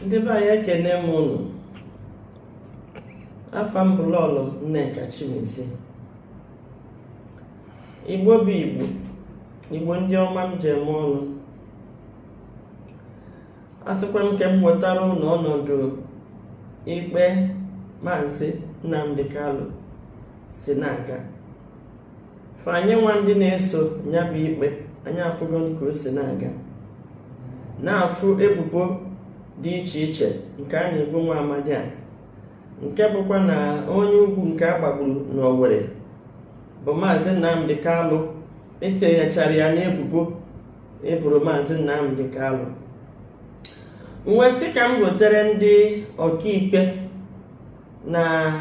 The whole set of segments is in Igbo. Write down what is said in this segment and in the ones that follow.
ndị be anyị ekene m ụnụ afa m bụ lọlọ nneka chimezie igbo bụ igbo igbo ndị ọma m ji eme ọnụ asịkwa m ka m wetara ụnụ ọnọdụ ikpe maazị nnamdi kanu si na-aga fa anyị nwa ndị na-eso ya bụ ikpe anyị afụgo ka o si na-aga na-afụ ebubo dị iche iche nke a na-ebo nwa amadị a nke bụkwa na onye ugwu nke a gbagburu n'Owerri bụ maazị Nnamdi Kanu etinyechara ya n'ebubo eboro maazị Nnamdi Kanu m wee sị ka m gotere ndị ọkaikpe na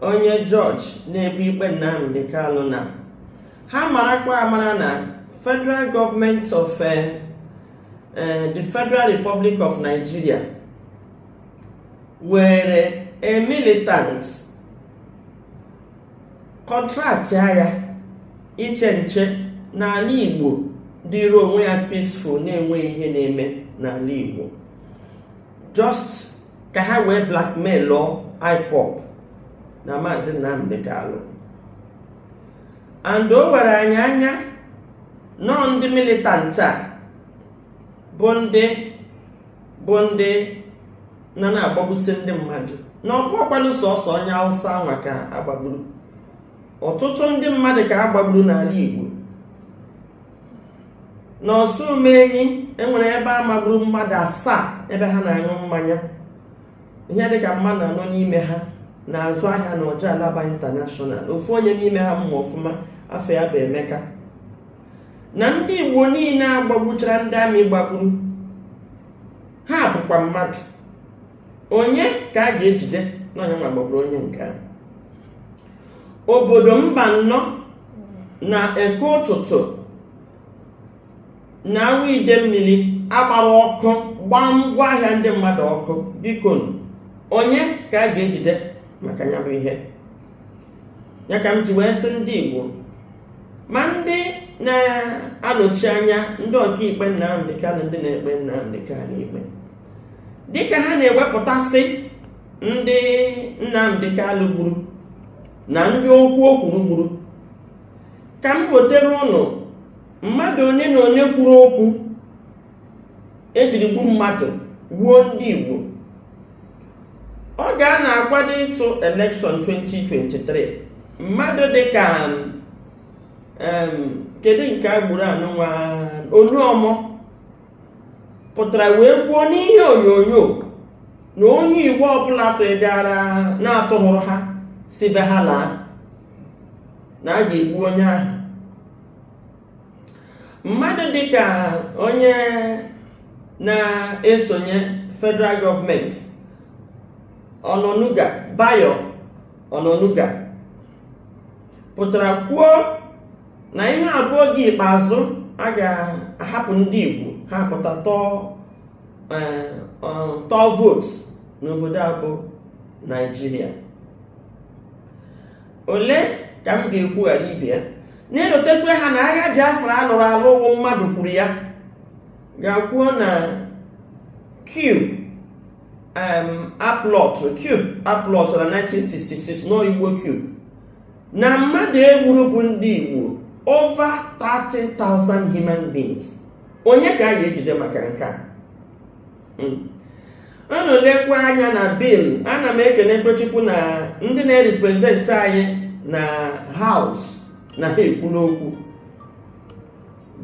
onye jọji na-ekpe ikpe Nnamdi Kanu na ha marakwa amara na federal gọọmenti of eh, eh, the Federal Republic of Nigeria were a militant kọntraktịa ya iche nche n'ala Igbo dịrị onwe ya peaceful na-enweghị ihe na-eme n'ala Igbo just ka ha wee blackmailụọ IPOB na maazị Nnamdi Kanu and o were anyị anya na ọọ ndị militant a bụ ndị bụ ndị na na-agbagbusi ndị mmadụ na ọ bụrọkwanụ sọsọ onye awụsa anwa ka a gbagburu ọtụtụ ndị mmadụ ka a gbagburu n'ala Igbo n'Osumenyi enwere ebe a magburu mmadụ asaa ebe ha na-aṅụ mmanya ihe dịka mmadụ anọ n'ime ha na-azụ ahịa na Ojo Alaba intanashọnal ofu onye n'ime ha m ma ọfụma afa ya bụ emeka na ndị igbo niile a gbagbuchara ndị amị gbagburu ha bụkwa mmadụ onye ka a ga-ejide na onye nwa gbagburu onye nke a obodo Mbanọ na eke ụtụtụ na Awọ Idemili a gbara ọkụ gbaa ngwa ahịa ndị mmadụ ọkụ biko onye ka a ga-ejide maka ya bụ ihe ya ka m ji wee sị ndị Igbo ma ndị na-anọchi anya ndị ọkaikpe Nnamdi Kanu ndị na-ekpe Nnamdi Kanu ikpe dịka ha na-ewepụtasị ndị Nnamdi Kanu gburu na ndị okwu o kwuru gburu ka m gotere ụnụ mmadụ onye na onye kwuru okwu ejiri gbu mmadụ gbuo ndị Igbo oge a na-akwado ịtụ elekshọn 2023 mmadụ dịka kedu nke a gburu anụnwa Oluomo pụtara wee kwuo n'ihe onyonyo na onye igbo ọbụla tụgara na-atụhụrụ ha si be ha laa na a ga-egbu onye ahụ mmadụ dịka onye na-esonye federal gọọmenti onanuga bayo onanuga pụtara kwuo na ihe a bụ oge ikpeazụ a ga-ahapụ ndị Igbo ha pụta tụọ eh, tụọ vootu n'obodo a bụ Naijiria ole ka m ga-ekwu ghara ibe ya na-elotekwe ha na agha Biafra alụrụ alụ ọ bụ mmadụ kwuru ya ga-akwuo na coup um, a plọtụ coup a plọtụ na 1966 n'ọ Igbo coup na mmadụ e gburu bụ ndị Igbo over 30,000 human beings onye ka a ga-ejide maka nke a hmm. unu lekwa anya na bill ana m ekele Chukwu na ndị na-representị anyị na house na ha kwuru okwu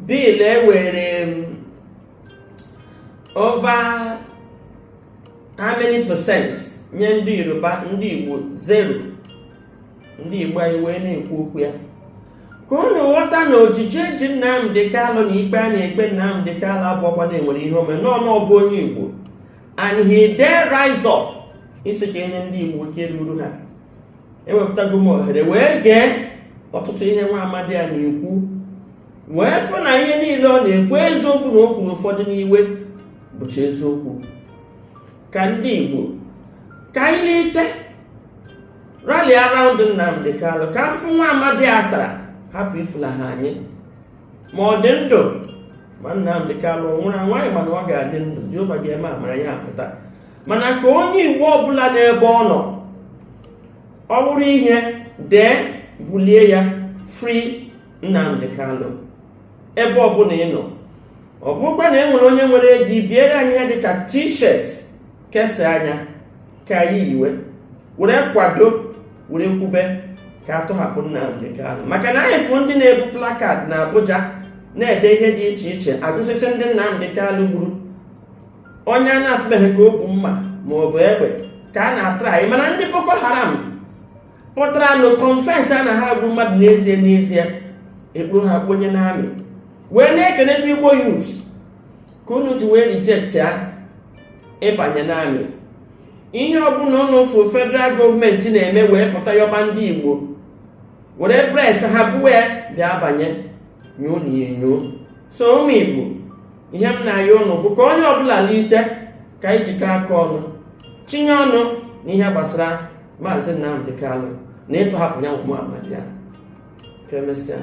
bill e were over how many percent nye ndị yoruba ndị igbo zero ndị igbo anyị wee na-ekwu okwu ya ka unu ghọta na ojiji e ji nnamdi kanu na ikpe a na-ekpe nnamdi kanu abụhọkwa na e nwere ihe o mere na ọ na ọ bụ onye igbo and he dare rise up ịsị ka e nye ndị igbo nke ruru ha ewepụtago m ohere wee gee ọtụtụ ihe nwa amadi a na-ekwu wee fụ na ihe niile ọ na-ekwu eziokwu na o kwuru ụfọdụ n'iwe bụcha eziokwu ka ndị Igbo ka anyị bilite rally around Nnamdi Kanu ka afụfụ nwa amadi a tara hapụ ifulaha anyị ma ọ dị ndụ ma Nnamdi Kanu nwụrụ anwụ anyị ma na ọ ga-adị ndụ Jehova ga-eme amara ya apụta mana ka onye Igbo ọbụla n'ebe ọ nọ ọ bụrụ ihe dee bulie ya free Nnamdi Kanu ebe ọbụla ị nọ ọ bụrụkwa na e nwere onye nwere ego ibiere anyị ihe dịka t-shirt kesaa anyị ka anyị yiwe were kwado were kwube ka a tọhapụ Nnamdi Kanu maka na anyị fụ ndị na-ebu placard na Abuja na-ede ihe dị iche iche agụsịsị ndị Nnamdi Kanu gburu onye a na-afụbeghị ka o bu mma ma ọ bụ egbe ka a na-atraị mana ndị Boko Haram pụtara nụ confess na ha gburu mmadụ n'ezie n'ezie e kpọrọ ha kpọnye n'army wee na-ekene ndị igbo youth ka unu ji wee reject ya ịbanye n'army ihe ọbụla unu fụ federal gọọmenti na-eme wee pụta yọba ndị igbo were pressure buwe bịa banye nyoonụ ya enyo so ụmụ igbo ihe m na-ayọ ụnụ bụ ka onye ọbụla lite ka anyị jikọ aka ọnụ tinye ọnụ n'ihe gbasara maazị Nnamdi Kanu na ịtọhapụ ya nwa amadi a ka emesịa